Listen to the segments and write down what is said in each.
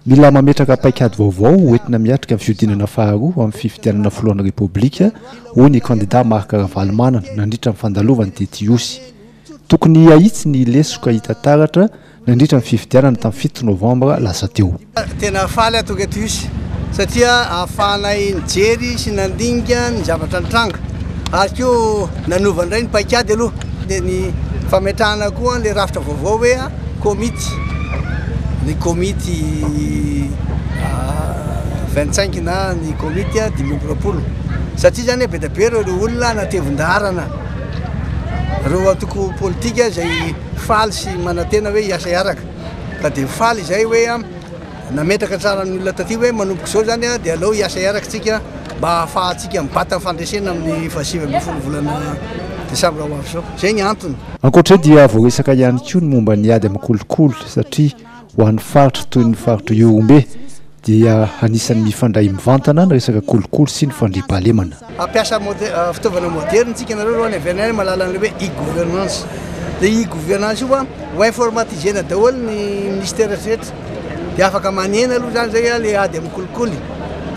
Mila mametraka paikady vaovao ho entina miatrika ny fihodinana faharoa amin'ny fifidianana filohan'ny Repoblika, hoy ny kandidà Marc Ravalomanana nandritra ny fandalovany tety Ihosy. Tokony hahitsy ny lesoka hita taratra nandritra ny fifidianana tamin'ny fito novambra lasa teo. Tena faly aho tonga eto Ihosy satria ahafahanay nijery sy nandinika ny zavatra nitranga ary koa nanova indray ny paikady aloha dia ny fametrahana koa ilay rafitra vaovao hoe. Komity, ny komity vingt cinq na ny komity dimy amby roapolo satria zany be dia be ireo olona natevin-daharana, ireo antoko politika izay faly sy manantena hoe hiasa hiaraka ka dia faly izay hoe Nametraka tsara ny olona taty hoe manomboka izao izany dia aleo hiasa araka isika mba hahafahantsika mibata ny fandresena amin'ny fahasivy ambin'ny folo volana desambra ho avy izao. Izay ny antony. Ankoatra io dia voaresaka ihany koa ny momba ny ady amin'ny kolikoly satria ho an'ny faritra toy ny faritr'Ihorombe dia anisan'ny mifandray mivantana ny resaka kolikoly sy ny fandriampahalemana. Hampiasa fitaovana moderina isika, nareo aloha any avy any mahalala an'ilay hoe e-governance, ilay e-governance io fa ho informatiser-na daholo ny ministera rehetra dia afaka manena aloha izany izay ilay ady amin'ny kolikoly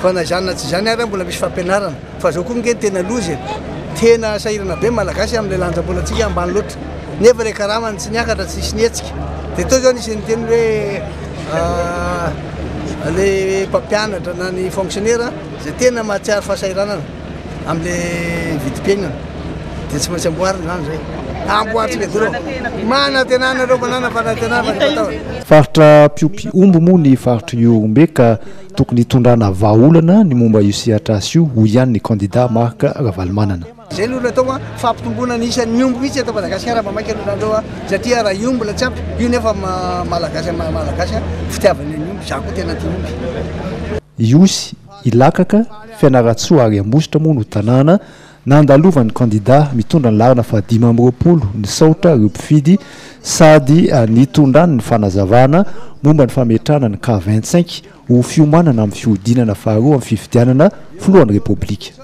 fa na izany na tsy izany ary mbola misy fampianarana fa izao koa ange no tena loza e! tena sahirana be ny malagasy amin'ilay lanjam-bolantsika ambany loatra nefa ilay karamany tsy niakatra tsy nisy nihetsika dia tao izao nisy niteny hoe ilay mpampianatra na ny fonctionnaire Izay tena mahatsiaro fahasahiranana amin'ilay vidim-piainana dia tsy maintsy amboarina izany izay. Amboaritra ilay vola ao. Manantenana ireo mananam-panantenana fa ny fataony. Faritra mpiompy omby moa ny faritra Ihorombe ka tokony hitondrana vahaolana ny momba io sehatr'asa io, hoy ihany ny kandida Marc Ravalomanana. Zay aloha no atao an, fampitomboana ny isan'ny omby mihitsy eto Madagasikara vao maika no nareo an, satria raha io mbola tsy ampy, io nefa Malagasy amin'ny maha Malagasy an, fitiavana ny omby, za koa tena tia omby. Ihosy, Ilakaka, Fianarantsoa ary Ambositra moa no tanàna nandalovan'ny kandida mitondra ny laharana fahadimy amby roapolo nisaotra ireo mpifidy sady nitondrany ny fanazavana momba ny fametrahana ny cas vingt-cinq ho fiomanana amin'ny fihodinana faharoa amin'ny fifidianana filohan'ny Repoblika.